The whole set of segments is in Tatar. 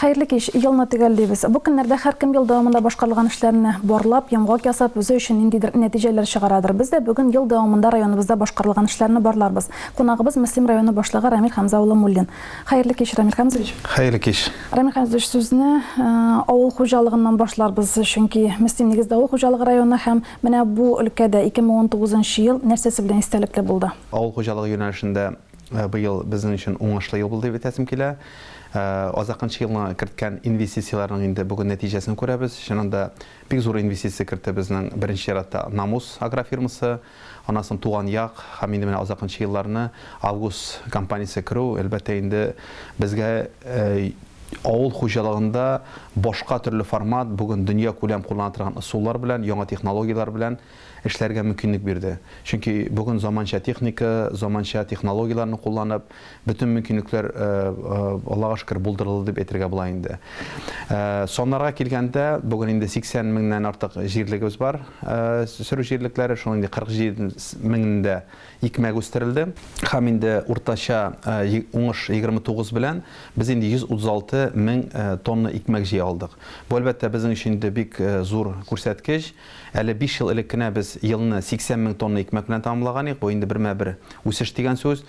Хәерле кич, елны төгәллибез. Бу көннәрдә һәркем ел дәвамында башкарылган эшләрне барлап, йомгак ясап, үзе өчен ниндидер нәтиҗәләр чыгарадыр. Без дә бүген ел дәвамында районыбызда башкарылган эшләрне барларбыз. Кунагыбыз Мөслим районы башлыгы Рамил Хәмзә улы Муллин. Хәерле кич, Рамил Хәмзович. Хәерле кич. Рамил Хәмзович, сүзне э, авыл хуҗалыгыннан башларбыз, чөнки Мөслим нигездә авыл хуҗалыгы районы һәм Менә бу өлкәдә 2019 нчы ел нәрсәсе белән истәлекле булды? Авыл хуҗалыгы юнәлешендә быел безнең өчен уңышлы ел булды дип әйтәсем килә. Азакынчы елны керткән инвестицияләрнең инде бүген нәтиҗәсен күрәбез. Чыннан да, бик зур инвестиция кертте безнең, беренче чиратта, Намус агрофирмасы, аннан соң Туган як һәм инде менә азакынчы елларны Август компаниясе керү, әлбәттә инде, безгә, Авыл хуҗалыгында башка төрле формат бүген дөньякүләм куллана торган ысуллар белән, яңа технологияләр белән эшләргә мөмкинлек бирде. Чөнки бүген заманча техника, заманча технологияләрне кулланып, бөтен мөмкинлекләр, Аллага шөкер, булдырылды дип әйтергә була инде. Саннарга килгәндә, бүген инде 80 меңнән артык җирлегебез бар, сөрү җирлекләре, шуның инде 47 меңендә Икмәк үстерелде һәм инде уртача уңыш 29 белән без инде 136 мең тонна икмәк җыя алдык. Бу, әлбәттә, безнең өчен инде бик зур күрсәткеч. Әле биш ел элек кенә без елны 80 мең тонна икмәк белән тәмамлаган идек, бу инде бермә-бер үсеш дигән сүз.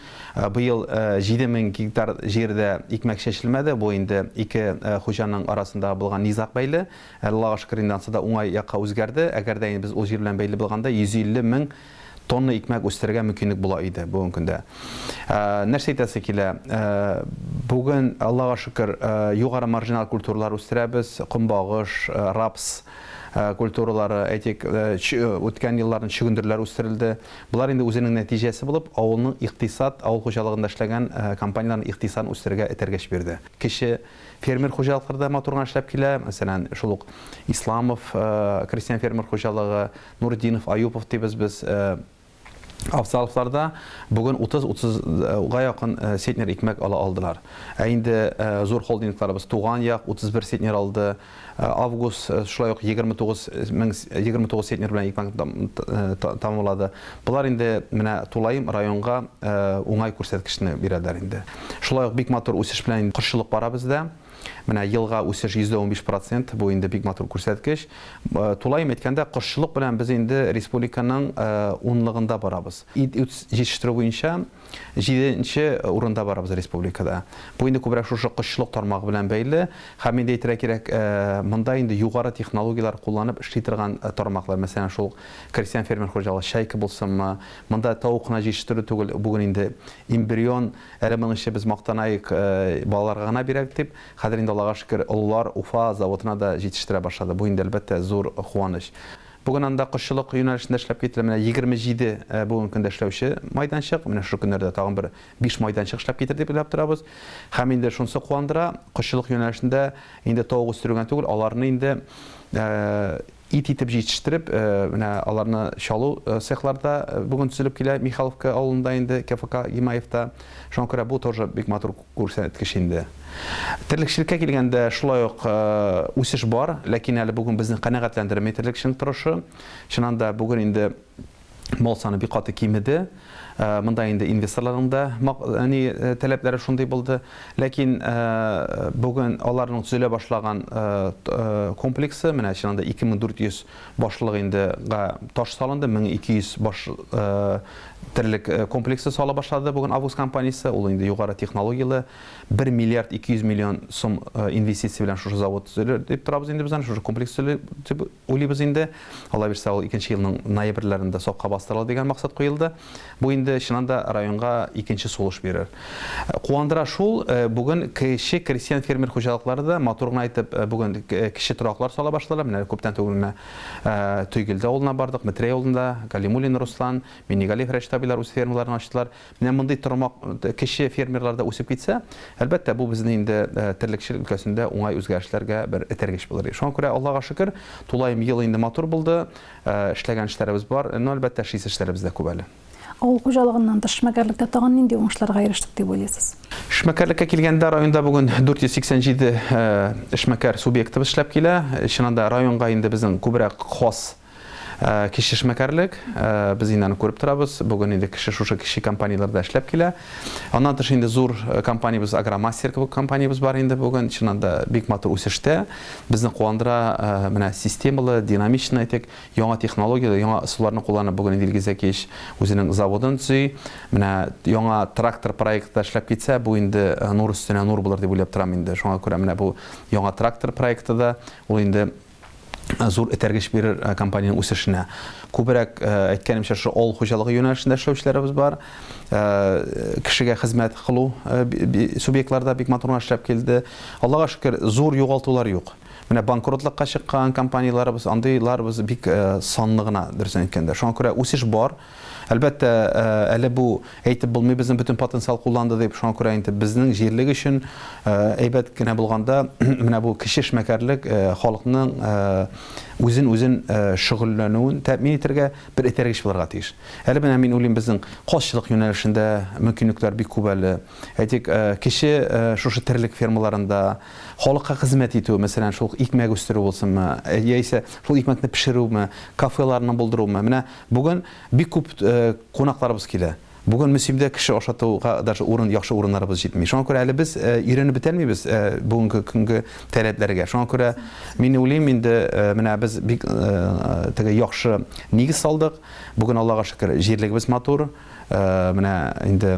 Быел 7 мең гектар җирдә икмәк чәчелмәде, бу инде ике хуҗаның арасындагы булган низаг бәйле. Аллага шөкер, инде ансы да уңай якка үзгәрде. Әгәр дә без ул җир белән бәйле булганда 150 мең тонна икмәк үстерергә мөмкинлек була иде бүгенге көндә. Ә, нәрсә әйтәсе килә? Ә, бүген, Аллага шөкер, ә, югары маржинал культуралар үстерәбез, комбагыш, ә, рапс ә, культуралары, әйтик, ә, чө, үткән елларның чөгендерләр үстерелде. Болар инде үзенең нәтиҗәсе булып, авылның икътисад, авыл хуҗалыгында эшләгән ә, компанияләрнең икътисадын үстерергә этәргеч бирде. Кече фермер хуҗалыклары да матур гына эшләп килә. Мәсәлән, шул ук Исламов, ә, крестьян-фермер хуҗалыгы, Нуретдинов, Аюпов дибез без Авсаловларда бүген 30-30 га якын центнер икмәк ала алдылар. Ә инде зур холдингларыбыз Туган як 31 центнер алды, Август шулай ук 29 мең 29 центнер белән икмәк тамамлады. Болар инде менә тулаем районга уңай күрсәткечне бирәләр инде. Шулай ук бик матур үсеш белән кошчылык бара бездә. Менә елга үсеш 115 процент, бу инде бик матур күрсәткеч. Тулаем әйткәндә, кошчылык белән без инде республиканың унлыгында барабыз. Ит җитештерү буенча җиденче урында барабыз республикада. Бу инде күбрәк шушы кошчылык тармагы белән бәйле. Һәм инде әйтергә кирәк, монда инде югары технологияләр кулланып эшли торган тармаклар, мәсәлән, шул крестьян-фермер хуҗалыгы Чайка булсынмы, монда тавык кына җитештерү түгел, бүген инде эмбрион, Әле моның эче без мактанаек, балаларга гына бирәк дип, хәзер инде Аллага шөкер, олылар Уфа заводына да җитештерә башлады. Бу инде әлбәттә зур куаныч. Бүген анда кошчылык юнәлешендә эшләп китерелә менә 27 бүгенге көндә эшләүче майданчык, менә шушы көннәрдә тагын бер биш майданчык эшләп китер дип уйлап торабыз. Һәм инде шунысы куандыра, кошчылык юнәлешендә инде тавык үстерү генә түгел, аларны инде Ит итеп җитештереп, менә аларны чалу цехлары да бүген төзелеп килә Михайловка авылында инде, КФК Гимаевта. Шуңа күрә бу тоже бик матур күрсәткеч инде. Терлекчелеккә килгәндә, шулай ук үсеш бар, ләкин әле бүген безне канәгатьләндерми терлекченың торышы. Чыннан да, бүген инде. Мал саны бик каты кимеде. Монда инде инвесторларның да әни таләпләре шундый булды. Ләкин бүген аларның төзелә башлаган комплексы, менә чыннан да 2400 башлык инде таш салынды, 1200 баш терлек комплексы сала башлады бүген Август компаниясе. Ул инде югары технологияле 1 миллиард 200 миллион сум инвестиция белән шушы завод төзелер дип торабыз инде без аны, шушы комплекс төзелер дип Уйлыйбыз инде, калабирсә ул икенче елның ноябрьләрендә сакка бастырыла дигән максат куелды. Бу инде чыннан да районга икенче сулыш бирер. Куандыра шул, бүген кече крестьян-фермер хуҗалыклары да матур гына итеп бүген кече тораклар сала башладылар. Менә әле күптән түгел менә Тойгелде авылына бардык, Метрәй авылында Галимуллин Руслан, Миннегалиев Рәшит абыйлар үз фермаларын ачтылар. Менә мондый тормак кече фермерларда үсеп китсә, әлбәттә, бу безне инде терлекчелек өлкәсендә уңай үзгәрешләргә бер этәргеч булыр иде. Шуңа күрә, Аллага шөкер, тулаем ел инде матур булды, эшләгән эшләребез бар, но, әлбәттә, эшлисе эшләребез дә күп әле. Авыл хуҗалыгыннан тыш, эшмәкәрлектә тагын нинди уңышларга ирештек дип уйлыйсыз? Эшмәкәрлеккә килгәндә, районда бүген 487 эшмәкәр субъектыбыз эшләп килә. Чыннан да, районга инде безнең күбрәк хас Кече эшмәкәрлек, без инде аны күреп торабыз, бүген инде кеше шушы кече компанияләрдә эшләп килә. Аннан тыш инде зур компаниябез, Агромастер кебек компаниябез бар инде бүген, чыннан да бик матур үсештә. Безне куандыра менә системалы, динамичный әйтик, яңа технологияләр, яңа ысулларны кулланып бүген инде Илгиз Зәкиевич үзенең заводын төзи. Менә яңа трактор проекты да эшләп китсә, бу инде нур өстенә нур булыр дип уйлап торам инде. Шуңа күрә менә бу яңа трактор проекты да, ул инде зур этәргеч бирер компаниянең үсешенә. Күбрәк, әйткәнемчә, шушы авыл хуҗалыгы юнәлешендә эшләүчеләребез бар. Кешегә хезмәт кылу субъектлары да бик матур гына эшләп килде. Аллага шөкер, зур югалтулар юк. Менә банкротлыкка чыккан компанияләребез, андыйларыбыз бик санлы гына, дөресен әйткәндә. Шуңа күрә үсеш бар. Әлбәттә, әле бу әйтеп булмый, безнең бөтен потенциал кулланды дип, шуңа күрә инде безнең җирлек өчен әйбәт кенә булганда, менә бу кече эшмәкәрлек халыкның үзен-үзен шөгыльләнүен тәэмин итәргә бер этәргеч булырга тиеш. Әле менә мин уйлыйм, безнең казчылык юнәлешендә мөмкинлекләр бик күп әле. Әйтик, кече шушы терлек фермаларында халыкка хезмәт итү, мәсәлән, шул икмәк үстерү булсынмы, яисә шул икмәкне пешерүме, кафеларны булдыруымы, менә Бүген бик күп кунакларыбыз килә. Бүген Мөслимдә кеше ашатуга даже урын, яхшы урыннарыбыз җитми. Шуңа күрә әле без өйрәнеп бетәлмибез бүгенге көнге таләпләргә. Шуңа күрә мин уйлыйм, инде менә без бик теге яхшы нигез салдык. Бүген Аллага шөкер, җирлегебез матур. Менә инде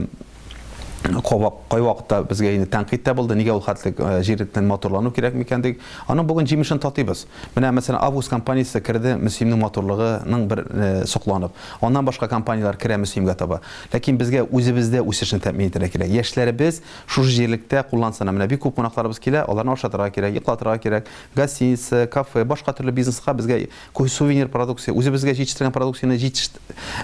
кабак кайвакытта безгә инде тәнкыйть тә булды, нигә ул хәтлек э, җирнең матурлану кирәк микән дик. Аның бүген җимешен татыйбыз. Менә мәсәлән Август компаниясе керде Мөслимнең матурлыгының бер э, сокланып. Аннан башка компанияләр керә Мөслимгә таба. Ләкин безгә үзебездә үсешне тәэмин итәргә кирәк. Яшьләребез шушы җирлектә куллансына. Менә бик күп кунакларыбыз килә, аларны ашатырга кирәк, йоклатырга кирәк. Гостиница, кафе, башка төрле бизнеска безгә Сувенир продукция, үзебезгә җитештергән продукцияне җитеш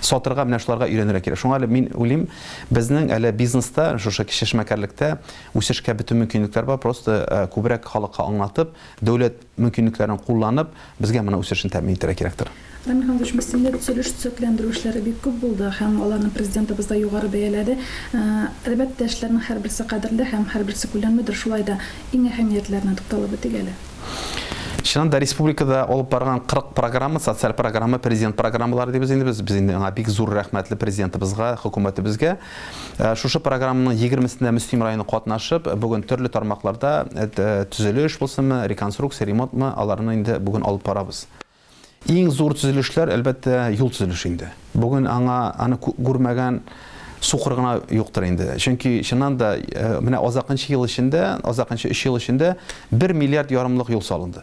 сатырга менә шуларга өйрәнергә кирәк. Шуңа әле мин уйлыйм, безнең әле бизнеста, шушы кече эшмәкәрлектә үсешкә бөтен мөмкинлекләр бар, просто күбрәк халыкка аңлатып, дәүләт мөмкинлекләрен кулланып, безгә моның үсешен тәэмин итәргә кирәктер. Рамил Хәмзович, миссионер төзелеш-төзекләндерү эшләре бик күп булды һәм аларны Президентыбыз да югары бәяләде. Әлбәттә, эшләрнең һәрберсе кадерле һәм һәрберсе күләмледер, шулай да иң әһәмиятләренә тукталып үтик әле. Чыннан да республикада алып барган 40 программа, социаль программа, президент программалары дибез инде без. Без инде аңа бик зур рәхмәтле президентыбызга, хөкүмәтебезгә. Э, шушы программаның 20-сендә Мөслим районы катнашып, бүген төрле тармакларда э, төзелеш булсынмы, реконструкция, ремонтмы, аларны инде бүген алып барабыз. Иң зур төзелешләр, әлбәттә, юл төзелеше инде. Бүген аңа аны күрмәгән сукыр гына юктыр инде. Чөнки чыннан да э, менә азакынчы ел эчендә, азакынчы 3 ел эчендә 1 миллиард ярымлык юл салынды.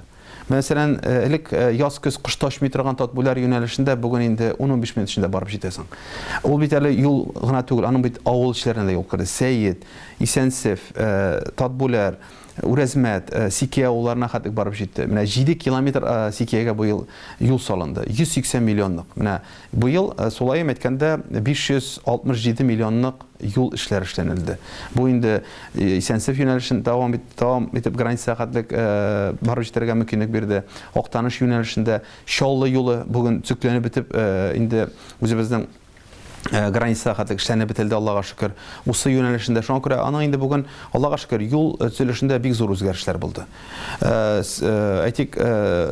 Мәсәлән, э, элек э, яз-көз кыш ташмый торган Татбүләр юнәлешендә бүген инде 10-15 минут эчендә барып җитәсең. Ул бит әле юл гына түгел, аның бит авыл эчләренә дә юл керде. Сәет, Исәнсев, э, Татбүләр, Үрәзмәт, Сикия авылларына хәтлек барып җитте. Менә җиде километр Сикиягә быел юл салынды. 180 миллионлык. Менә быел сулаем әйткәндә 567 миллионлык юл эшләре эшләнелде. Бу инде Исәнсеф юнәлешен дәвам итеп границага хәтлек барып җитәргә мөмкинлек бирде. Актаныш юнәлешендә Чаллы юлы бүген төзекләнеп бетеп инде үзебезнең Э, границада хәтлек эшләнеп бетелде аллага шөкер усы юнәлешендә шуңа күрә аның инде бүген аллага шөкер юл э, төзелешендә бик зур үзгәрешләр булды э, әйтик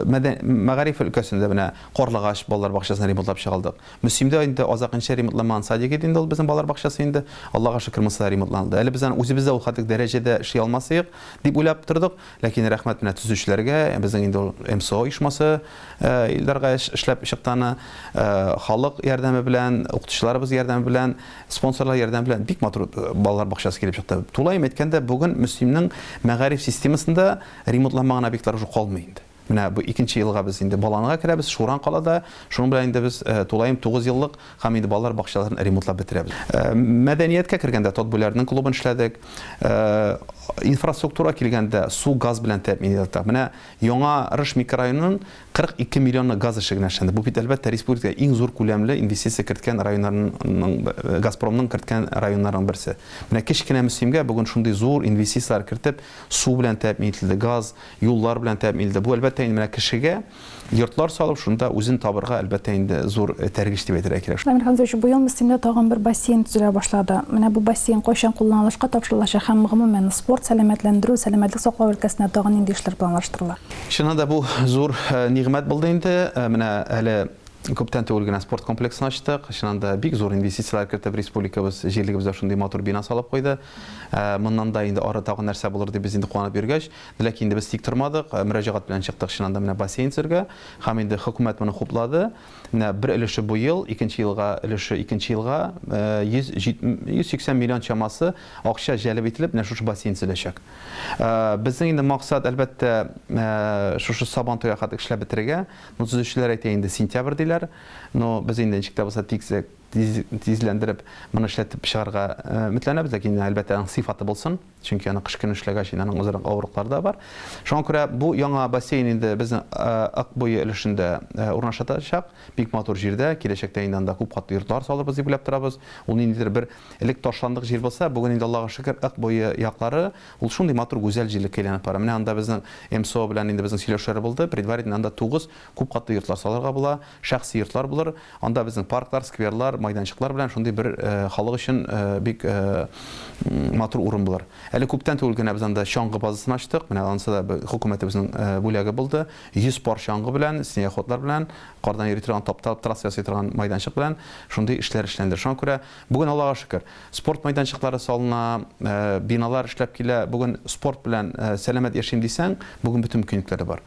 мәгариф өлкәсендә менә карлыгач балалар бакчасын ремонтлап чыгалдык мөслимдә инде азакынча ремонтламаган садик иде инде ул безнең балалар бакчасы инде аллага шөкер монысы да ремонтланды әле без аны үзебез дә ул хәтлек дәрәҗәдә эшли алмас идек дип уйлап тордык Ләкин рәхмәт менә төзүчеләргә, безнең инде ул МСО оешмасы Илдарга эшләп чыкканы, халык ярдәме белән, укытучыларыбыз ярдәме белән, спонсорлар ярдәме белән бик матур балалар бакчасы килеп чыкты. Тулаем әйткәндә, бүген Мөслимнең мәгариф системасында ремонтланмаган объектлар уже калмый инде. Менә бу икенче елга без инде Баланга керәбез, Шуран калада, шуның белән инде без тулаем тугыз еллык Һәм инде балалар бакчаларын ремонтлап бетерәбез. Мәдәнияткә кергәндә, Тотбүләрнең клубын эшләдек. Инфраструктурага килгәндә, су, газ белән тәэмин итәбез. Менә Яңа Рыш микрорайонын 42 миллионы газ эше генә эшләнде. Бу бит, әлбәттә, республикада иң зур күләмле инвестиция керткән районнарның, Газпромның керткән районнарның берсе. Менә кечкенә Мөслимгә бүген шундый зур инвестицияләр кертеп, су белән тәэмин ителде, газ, юллар белән тәэмин ителде. Бу, әлбәттә, инде менә кешегә, Йортлар салып, шунда үзен табырга, әлбәттә инде, зур этәргеч дип әйтергә кирәк. Дамир Хәмзәевич, быел Мөслимдә тагын бер бассейн төзелә башлады. Менә бу бассейн кайчан кулланылышка тапшырылачак һәм, гомумән, спорт, сәламәтләндерү, сәламәтлек саклау өлкәсенә тагын нинди эшләр планлаштырыла? Чыннан да, бу зур нигъмәт булды инде. Менә әле күптән түгел генә спорт комплексын ачтык. Чыннан да, бик зур инвестицияләр кертеп, республикабыз, җирлегебездә шундый матур бина салып куйды. Моннан да инде ары тагын нәрсә булыр дип без инде куанып йөргәч. Ләкин инде без тик тормадык, э, мөрәҗәгать белән чыктык чыннан да менә бассейн төзергә. Һәм инде хөкүмәт моны хуплады. Менә бер өлеше бу ел, икенче елга өлеше икенче елга 180 э, миллион чамасы акча җәлеп ителеп, менә шушы бассейн төзеләчәк. Э, безнең инде максат, әлбәттә, шушы сабан туя хәтле эшләп бетерергә. Ну, төзүчеләр әйтә инде сентябрь диләр. Но без инде ничек тә булса тизлек тизләндереп, моны эшләтеп чыгарга өметләнәбез, ләкин әлбәттә аның сыйфаты булсын. Чөнки аны кыш көне эшләгәч, инде аның үзара авырлыклары да бар. Шуңа күрә бу яңа бассейн инде безнең Ык буе өлешендә урнашатачак. Бик матур җирдә, киләчәктә инде анда күп катлы йортлар салырбыз дип уйлап торабыз. Ул ниндидер бер элек ташландык җир булса, бүген инде, Аллага шөкер, Ык буе яклары ул шундый матур гүзәл җирлеккә әйләнеп бара. Менә анда безнең МСО белән инде безнең сөйләшүләр булды, предварительно анда 9 Күп катлы йортлар салырга була, шәхси йортлар булыр, анда безнең парклар, скверлар, майданчыклар белән шундый бер халык өчен бик матур урын булыр. Әле күптән түгел генә без анда чаңгы базасын ачтык, менә анысы да хөкүмәтебезнең бүләге булды. 100 пар чаңгы белән, снегоходлар белән, кардан йөри торган, тапталып трасса ясый торган майданчык белән шундый эшләр эшләнде. Шуңа күрә бүген, Аллага шөкер, спорт майданчыклары салына, биналар эшләп килә. Бүген спорт белән сәламәт яшим дисәң, бүген бөтен мөмкинлекләр дә бар.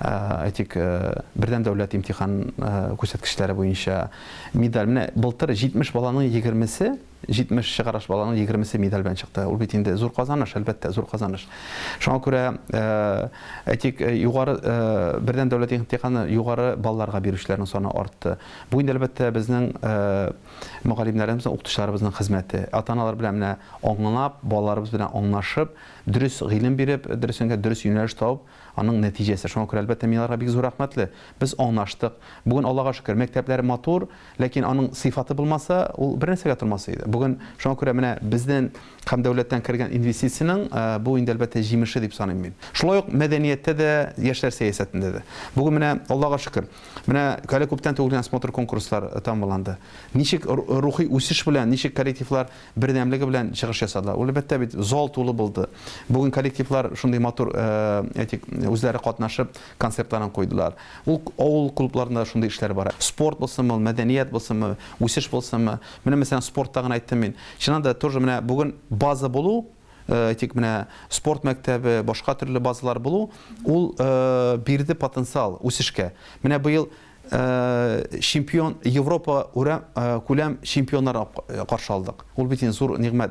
әйтик, бердәм дәүләт имтихан күрсәткечләре буенча медаль. Менә былтыр 70 баланың 20-се, 70 чыгарыш баланың 20-се медаль белән чыкты. Ул бит инде зур казаныш, әлбәттә, зур казаныш. Шуңа күрә, әйтик, югары бердәм дәүләт имтиханы югары балларга бирүчеләрнең саны артты. Бу инде, әлбәттә, безнең мөгаллимнәребезнең, укытучыларыбызның хезмәте. Ата-аналар белән менә аңлап, балаларыбыз белән аңлашып, дөрес гыйлем биреп, дөресенә дөрес юнәлеш табып, Аның нәтиҗәсе. Шуңа күрә, әлбәттә, мин аларга бик зур рәхмәтле. Без аңлаштык. Бүген, Аллага шөкер, мәктәпләр матур, ләкин аның сыйфаты булмаса, ул бернәрсәгә тормас иде. Бүген, шуңа күрә менә безнен һәм дәүләттән кергән инвестициянең бу инде, әлбәттә, җимеше дип саныйм мин. Шулай ук мәдәнияттә дә, яшьләр сәясәтендә дә. Бүген менә, Аллага шөкер, менә әле күптән түгел генә смотр-конкурслар тәмамланды. Ничек рухи үсеш белән, ничек коллективлар бердәмлеге белән чыгыш ясадылар. Ул әлбәттә бит зал тулы булды. Бүген коллективлар шундый матур, әйтик, үзләре катнашып концертларын куйдылар. Ул авыл клубларында да шундый эшләр бара. Спорт булсынмы ул, мәдәният булсынмы, үсеш булсынмы. Менә мәсәлән спортта гына әйттем мин. Чыннан да тоже менә бүген база булу, әйтик, менә спорт мәктәбе, башка төрле базалар булу, ул бирде потенциал үсешкә. Менә быел чемпион Европа күләм чемпионнары каршы алдык. Ул бит инде зур нигъмәт.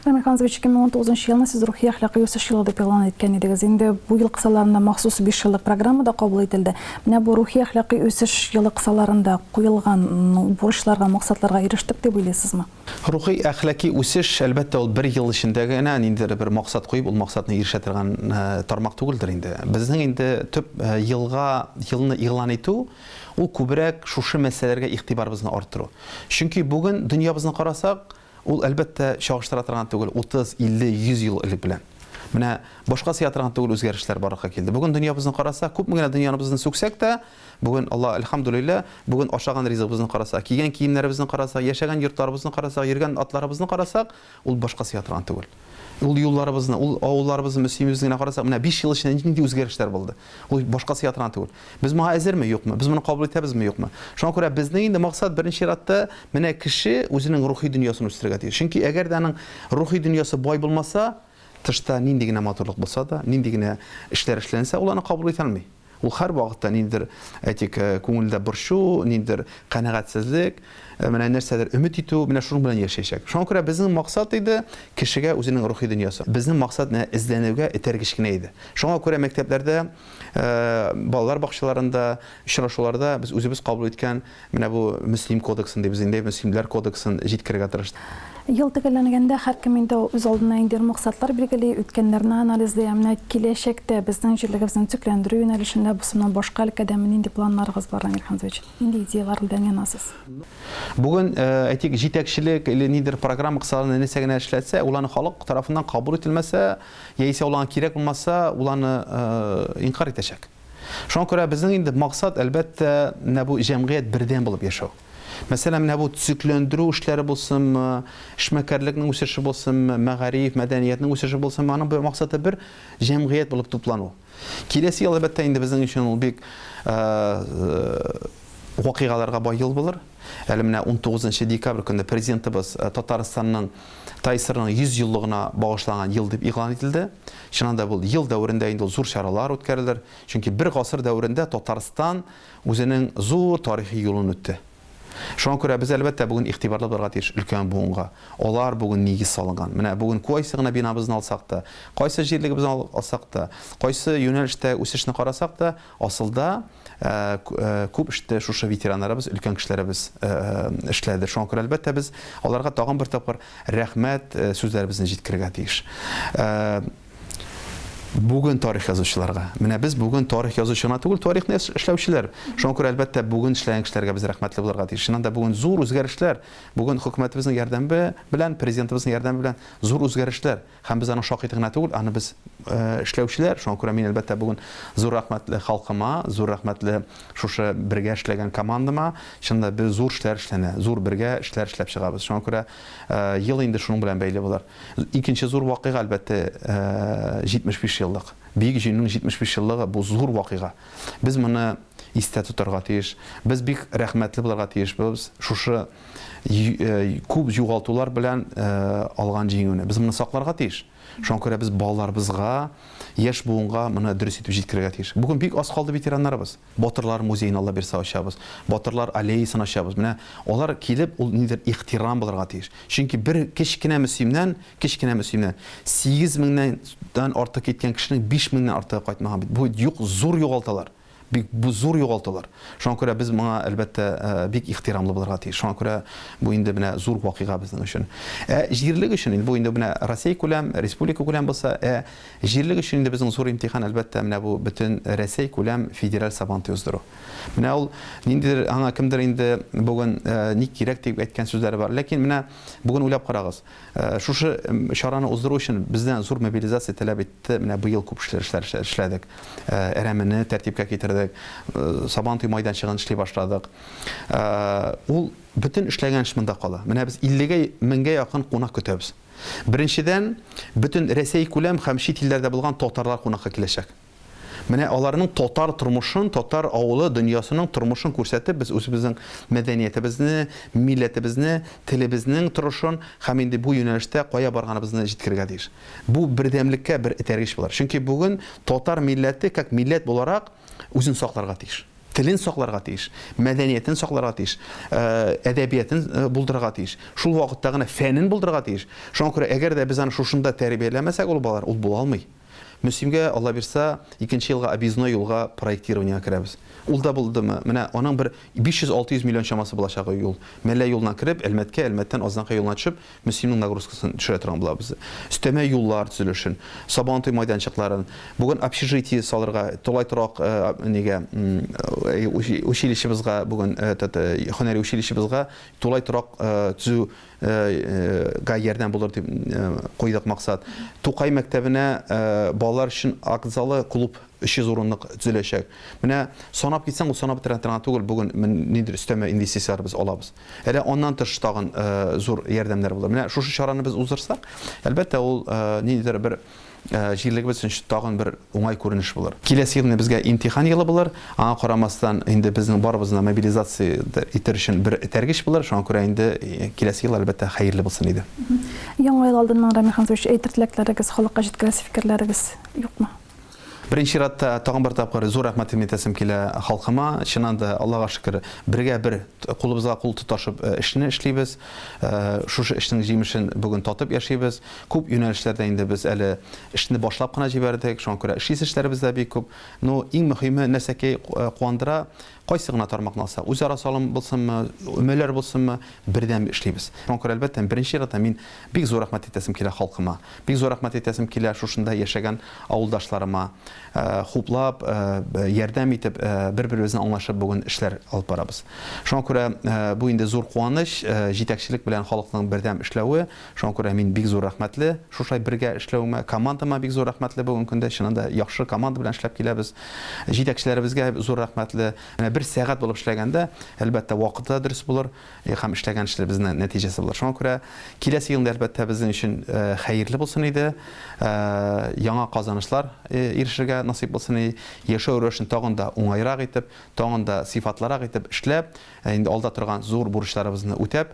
Рамил Ханзович, 2019 елны сез рухи-әхлакый үсеш елы дип игълан иткән идегез. Инде бу ел кысаларында махсус биш еллык программа да кабул ителде. Менә бу рухи-әхлакый үсеш елы кысаларында куелган бурычларга, максатларга ирештек дип уйлыйсызмы? Рухи, әхлаки үсеш, әлбәттә, ул бер ел эчендә генә ниндидер бер максат куеп, ул максатны ирешә торган тармак түгелдер инде. Безнең инде төп елга, елны игълан итү, ул күбрәк шушы мәсьәләләргә игътибарыбызны арттыру. Чөнки бүген дөньябызны карасак, ул, әлбәттә, чагыштыра торган түгел 30, 50, 100 ел элек белән. Менә башка сыя торган түгел үзгәрешләр барлыкка килде. Бүген дөньябызны карасак, күпме генә дөньябызны сүксәк тә, Бүген, Аллаһ әлхәмдүлилләһ, бүген ашаган ризыгыбызны карасак, кигән киемнәребезне карасак, яшәгән йортларыбызны карасак, йөргән атларыбызны карасак, ул башка сыя торган түгел. Ул юлларыбызны, ул авылларыбызны, мөслимебезне генә карасак, менә биш ел эчендә нинди үзгәрешләр булды. Ул башка сыя торган түгел. Без моңа әзерме, юкмы? Без моны кабул итәбезме, юкмы? Шуңа күрә безнең инде максат беренче чиратта менә кеше үзенең рухи дөньясын үстерергә тиеш. Чөнки әгәр дә аның рухи дөньясы бай булмаса, тышта нинди генә матурлык булса да, нинди генә эшләр эшләнсә, ул аны кабул итә алмый. Ул һәрвакытта ниндидер, әйтик, күңелдә борчу, ниндидер канәгатьсезлек, менә нәрсәдер өмет итү, менә шуның белән яшәячәк. Шуңа күрә безнең максат иде, кешегә үзенең рухи дөньясы. Безнең максат менә эзләнүгә этәргеч кенә иде. Шуңа күрә мәктәпләрдә, балалар бакчаларында, очрашуларда без үзебез кабул иткән Менә бу Мөслим кодексын ди, без инде Мөслимләр кодексын җиткерергә тырыштык. Ел төгәлләнгәндә һәркем инде үз алдына ниндидер максатлар билгели, үткәннәрне анализлый, ә менә киләчәктә безнең җирлегебезне төзекләндерү юнәлешендә бусымнан башка өлкәдә нинди планнарыгыз бар, Данир Хәмзович? Нинди идеяләр белән янасыз? Бүген, әйтик, җитәкчелек или нидер программа кысаларында нәрсә генә эшләтсә, ул аны халык тарафыннан кабул ителмәсә, яисә ул аңа кирәк булмаса, ул аны инкарь итәчәк. Шуңа күрә безнең инде максат, әлбәттә, менә бу җәмгыять бердәм булып яшәү. Мәсәлән, менә бу төзекләндерү эшләре булсынмы, эшмәкәрлекнең үсеше булсынмы, мәгариф, мәдәниятнең үсеше булсынмы, аның бер максаты бер җәмгыять булып туплану. Киләсе ел, әлбәттә, инде безнең өчен ул бик вакыйгаларга бай ел булыр. Әле менә 19 декабрь көнне президентыбыз Татарстанның ТАИСРның 100 еллыгына багышланган ел дип игълан ителде. Чыннан да ул ел дәверендә инде ул зур чаралар үткәрелер, чөнки бер гасыр дәверендә Татарстан үзенең зур тарихи юлын үтте. Шуңа күрә без, әлбәттә, бүген игътибарлы булырга тиеш өлкән буынга. Алар бүген нигез салынган. Менә бүген куайсы гына бинабызны алсак та, кайсы җирлегебезне алсак та, кайсы юнәлештә үсешне карасак та, Асылда күп эште шушы ветераннарыбыз, өлкән кешеләребез эшләде. Шуңа күрә, әлбәттә, без аларга тагын бер тапкыр рәхмәт сүзләребезне җиткерергә тиеш. Бүген тарих язучыларга. Менә без бүген тарих язучы гына түгел, тарихны эшләүчеләр. Шуңа күрә, әлбәттә, бүген эшләгән кешеләргә без рәхмәтле булырга тиеш. Чыннан да, бүген зур үзгәрешләр, бүген хөкүмәтебезнең ярдәме белән, президентыбызның ярдәме белән зур үзгәрешләр. Һәм без аның шакиты гына түгел, аны без эшләүчеләр, шуңа күрә мин, әлбәттә, бүген зур рәхмәтле халкыма, зур рәхмәтле шушы бергә эшләгән командама. Чынында без зур эшләр эшләнә, зур бергә эшләр эшләп чыгабыз. Шуңа күрә ел инде шуның белән бәйле булыр. Икенче зур вакыйга, әлбәттә, 75 еллык. Бөек Җиңүнең 75 еллыгы, бу зур вакыйга. Без моны истә тотарга тиеш. Без бик рәхмәтле булырга тиешбез шушы күп югалтулар белән алган җиңүне. Без моны сакларга тиеш. Шуңа күрә без балаларыбызга, яшь буынга моны дөрес итеп җиткерергә тиеш. Бүген бик аз калды ветераннарыбыз. Батырлар музеен Алла бирсә ачабыз. Батырлар аллеясын ачабыз. Менә алар килеп, ул нидер ихтирам булырга тиеш. Чөнки бер кечкенә мөслимнән, кечкенә мөслимнән 8 меңнән артык киткән кешенең 5 меңнән артыгы кайтмаган бит. Бу юк, зур югалталар. Бик бу зур югалтулар. Шуңа күрә без моңа, әлбәттә, бик ихтирамлы булырга тиеш. Шуңа күрә бу инде менә зур вакыйга безнең өчен. Ә җирлек өчен инде бу инде менә Россиякүләм, республикакүләм булса, ә җирлек өчен инде безнең зур имтихан, әлбәттә, менә бу бөтен Рәсәйкүләм федераль Сабантуй уздыру. Менә ул ниндидер аңа кемдер инде бүген ни кирәк дип әйткән сүзләре бар. Ләкин менә бүген уйлап карагыз. Шушы чараны уздыру өчен бездән зур мобилизация таләп итте. Менә быел күп эшләр эшләдек. Әрәмене тәртипкә китердек. Сабантуй майданчыгын эшли башладык. Ул бөтен эшләгән эш монда кала. Менә без 50 меңгә якын кунак көтәбез. Беренчедән, бөтен Рәсәй күләм һәм чит илләрдә булган татарлар кунакка киләчәк. Менә аларның татар тормышын, татар авылы, дөньясының тормышын күрсәтеп, без үзебезнең мәдәниятебезне, милләтебезне, телебезнең торышын һәм инде бу юнәлештә кая барганыбызны җиткерергә тиеш. Бу бердәмлеккә бер этәргеч булыр. Чөнки бүген татар милләте, как милләт буларак, үзен сакларга тиеш. Телен сакларга тиеш, мәдәниятен сакларга тиеш, әдәбиятен булдырырга тиеш. Шул вакытта гына фәнен булдырырга тиеш. Шуңа күрә, әгәр дә без аны шушында тәрбияләмәсәк, ул балалар, ул була алмый. Мөслимгә, Алла бирса, икенче елга объездной юлга проектированиегә керәбез. Ул да булдымы, менә аның бер 500-600 миллион чамасы булачак ул юл. Мәллә юлыннан кереп, Әлмәткә, Әлмәттән Азнакай юлына төшеп, Мөслимнең нагрузкасын төшерә торган булабыз. Өстәмә юллар төзелешен, Сабантуй майданчыкларын, бүген общежитие салырга, тулай торак нигә, училищебызга бүген, этот, һөнәри училищебызга тулай торак төзү га ярдәм булыр дип куйдык максат. Тукай мәктәбенә балалар өчен акт залы, клуб 300 урынлык төзеләчәк. Менә санап китсәң, ул санап бетерә торган түгел, бүген ниндидер өстәмә инвестицияләр без алабыз. Әле аннан тыш тагын зур ярдәмнәр булыр. Менә шушы чараны без уздырсак, әлбәттә, ул ниндидер бер җирлегебез өчен тагын бер уңай күренеш булыр. Киләсе ел менә безгә имтихан елы булыр. Аңа карамастан, инде безнең барыбызны да мобилизация итәр өчен бер этәргеч булыр. Шуңа күрә инде киләсе ел, әлбәттә, хәерле булсын иде. Яңа ел алдыннан, Рамил Хәмзович, әйтер теләкләрегез, халыкка җиткерәсе фикерләрегез юкмы? Беренче чиратта, тагын бер тапкыр зур рәхмәтемне әйтәсем килә халкыма. Чыннан да, Аллага шөкер, бергә бер, кулыбызга кул тоташып эшне эшлибез. Шушы эшнең җимешен бүген татып яшибез. Күп юнәлешләрдә инде без әле эшне башлап кына җибәрдек, шуңа күрә эшлисе эшләребез дә бик күп. Ну, иң мөһиме, нәрсәки куандыра, кайсы гына тармакны алсак, үзара салым булсынмы, өмәләр булсынмы, бердәм эшлибез. Шуңа күрә, әлбәттә, беренче чиратта мин бик зур рәхмәт әйтәсем килә халкыма. Бик зур рәхмәт әйтәсем килә шушында яшәгән авылдашларыма. Хуплап, ярдәм итеп, бер-беребезне аңлашып бүген эшләр алып барабыз. Шуңа күрә бу инде зур куаныч, җитәкчелек белән халыкның бердәм эшләве. Шуңа күрә мин бик зур рәхмәтле шушай бергә эшләвемә, командама бик зур рәхмәтле бүгенге көндә. Чыннан да яхшы команда белән эшләп киләбез. Җитәкчеләребезгә зур рәхмәтле. Менә бер сәгать булып эшләгәндә, әлбәттә, вакыты да дөрес булыр һәм эшләгән эшләребезнең нәтиҗәсе булыр. Шуңа күрә киләсе елны, әлбәттә, безнең өчен хәерле булсын иде. Яңа казанышлар ирешергә насыйп булсын иде. Яшәү рәвешен тагын да уңайрак итеп, тагын да сыйфатлырак итеп эшләп, инде алда торган зур бурычларыбызны үтәп,